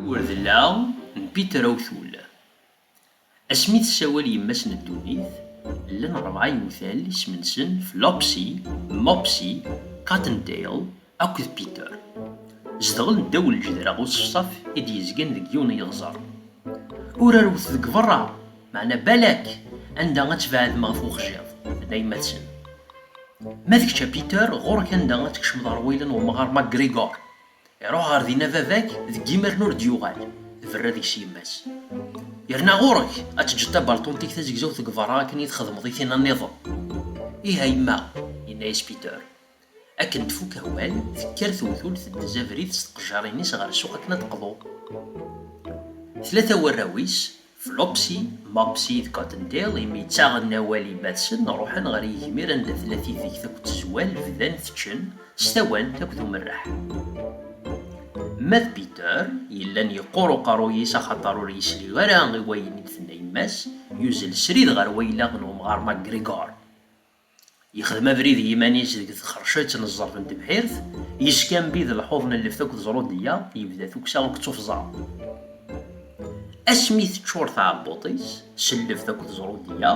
Urdella n Peter Awtul. Asmi i tessawal yemma-s n ddunit, llan rebɛa yewtal isem-nsen Flopsy, Mopsy, Cottontail, Akked Peter, zedɣen ddaw lǧedra n uṣefṣaf i d-yezgan deg yiwen n yeɣẓer. Ur rewwet deg beṛṛa, meɛna balak anda ad tbeɛdem ɣef wexjiḍ, d ayemmaten. Ma d kečč a Peter, ɣur-k anda ad tkecmeḍ ɣer wayla n wemɣar McGregor. Iṛuḥ ɣer din a baba-k, deg yimaren ur d-yuɣal, tberra deg-s yemma-s. Yerna ɣur-k ad teǧǧeḍ tabalṭunt-ik tazegzawt deg beṛṛa akken i txedmeḍ i tina nniḍen. Ih a yemma, yenna-yas Peter, Akken tfuk awal, tekker tewtult n tzabrit s tqejjarin-is ɣer ssuq akken ad d-teqḍu. Tlata warraw-is, Flopsy, Mopsy d Cottontail, imi ttaɣen awal i Batson, ruḥen ɣer yigmir anda tella tidegt akked tezwal, bdan teččen, s tawant akked umerreḥ. Ma d Peter, yellan yeqqur uqerruy-is axaṭer ur yesli ara i wayen i d-tenna yemma-s, yuzzel srid ɣer waylaɣ n wemɣar McGregor. Yexdem abrid i yiman-is deg txercett n ẓẓerb n tebḥirt, yeskanbid lḥuḍ n lleft akked ẓrudeyya, yebda tukksa akked tuffẓa. Asmi teččur tɛebbuḍt-is s lleft akked ẓrudeyya,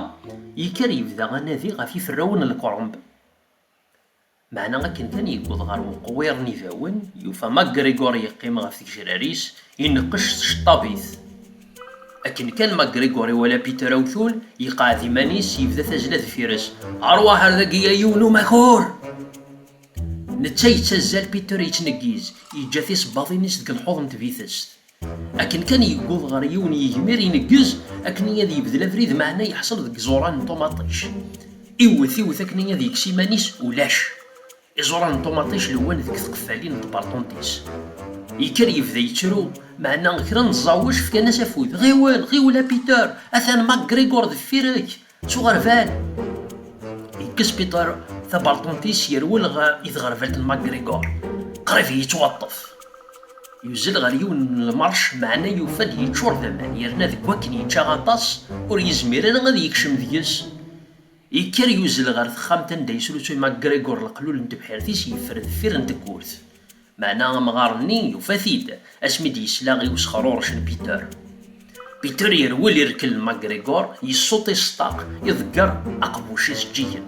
yekker yebda anadi ɣef yiferrawen n lkremb. Meɛna akken kan yewweḍ ɣer weqwiṛ n ibawen, yufa MacGregor yeqqim ɣef tgejrar-is, ineqqec tceṭṭabit. Akken kan MacGregor iwala Peter awtul, yeqɛed iman-is, yebda tazzla deffir-s, Rwaḥ ar dagi a yiwen umakur! Netta yettazzal, Peter yettneggiz, yeǧǧa tisebbaḍin-is deg lḥuḍ n tbitest. Akken kan yewweḍ ɣer yiwen yigmir ineggez akkenni ad yebdel abrid meɛna yeḥṣel deg iẓuran n ṭumaṭic. Iwwet, iwwet akkenni ad yekkes iman-is, ulac. Iẓuran n ṭumaṭic lewwan deg tqeffalin n tberṭunt-is. Yekker yebda yettru, meɛna kra n ẓẓawec fkan-as afud, Ɣiwel, ɣiwel a Peter, atan MacGregor deffir-k! Ttuɣerbal yekkes Peter tabalṭunt-is yerwel ɣer i tɣerbalt n McGregor. Qrib yettwaṭṭef. Yuzzel ɣer yiwen n lmerc meɛna yufa-d yeččur d aman yerna deg wakken yečča aṭas ur yezmir ara ad yekcem deg-s. Yekker yuzzel ɣer texxamt anda yesrusuy McGregor leqlul n tebḥirt-is yeffer deffir n tewwurt. Meɛna amɣar-nni yufa-t-id asmi d-yesla i usexruṛec n Peter. Peter yerwel irkel n McGregor, yessuṭ i ṣṭaq, iḍegger aqbuc izeǧǧigen.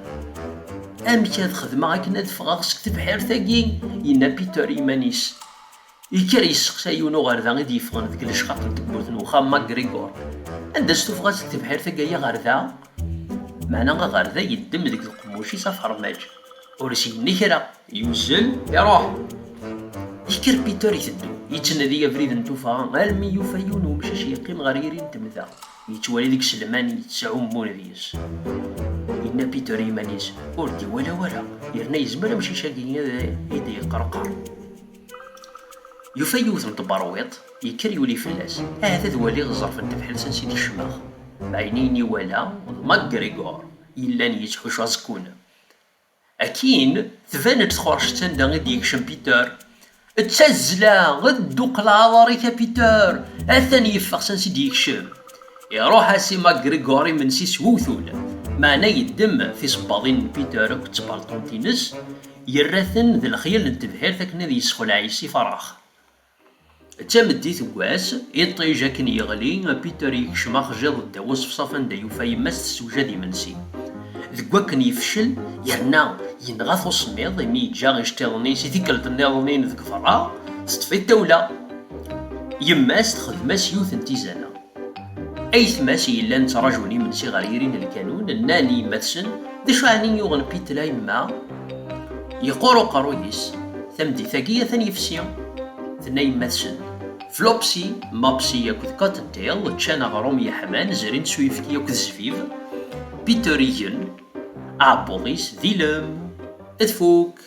Amek ad xedmeɣ akken ad ffɣeɣ seg tebḥirt-agi? yenna Peter i yiman-is. Yekker yesseqsa yiwen uɣerda i d-yeffɣen deg lecqaq n tewwurt n wexxam n McGregor, Anda-tt tufɣa-tt deg tebḥirt-agi ay aɣerda? Meɛna aɣerda yeddem deg uqemmuc-is afermaj, ur as-yenni kra. Yuzzel, iruḥ. Yekker Peter iteddu, yettnadi abrid n tuffɣa almi yufa yiwen umcac yeqqim ɣer yiri n temda, yettwali deg selman yettɛummun deg-s. Yenna Peter i yiman-is, ur d-iwala wara, yerna yezmer amcic-agi ad d-yeqqerqer. Yufa yiwet n tberwiḍt, yekker yuli fell-as, ahat ad waliɣ ẓẓerf n tebḥirt ansi d-kecmeɣ. Ɛyniyen iwala d MacGregor yellan yettḥuccu aẓekkun. Akkin, tban-d txerceţ anda i d-yekcem Peter. Ţţazzla, dduqel aɛḍar-ik a Peter! Atan yeffeɣ s ansi i d-yekcem. Iṛuḥ-as i MacGregor imensi s wewtul, meɛna yeddem tisebbaḍin n Peter akked tbalṭunt-ines, yerra-ten d lexyal n tebḥirt akken ad yessexleɛ yis-i Farax. D tameddit n wass, iṭij akken yeɣli, Peter yekcem axjiḍ ddaw uṣefṣaf anda yufa yemma-s tessewjad imensi. Deg wakken yefcel, yerna yenɣa-t usemmiḍ imi yeǧǧa iceṭṭiḍen-is i tikkelt nniḍen-in deg berra, teṭṭef-it tawla. Yemma-s txedm-as yiwet n tizana. Ayetma-s yellan ttrajun imensi ɣer yiri n lkanun, nnan i yemma-tsen, D acu ɛni i yuɣen Peter a yemma? Yeqqur uqerruy-is, tameddit-agi atan yefsi. Tenna yemma-tsen, Flopsy, Mopsy akked Cottontail ččan aɣrum yeḥman, zrin s uyefki akked zzbib. Peter igen aɛebbuḍ-is d ilem. Tfuk!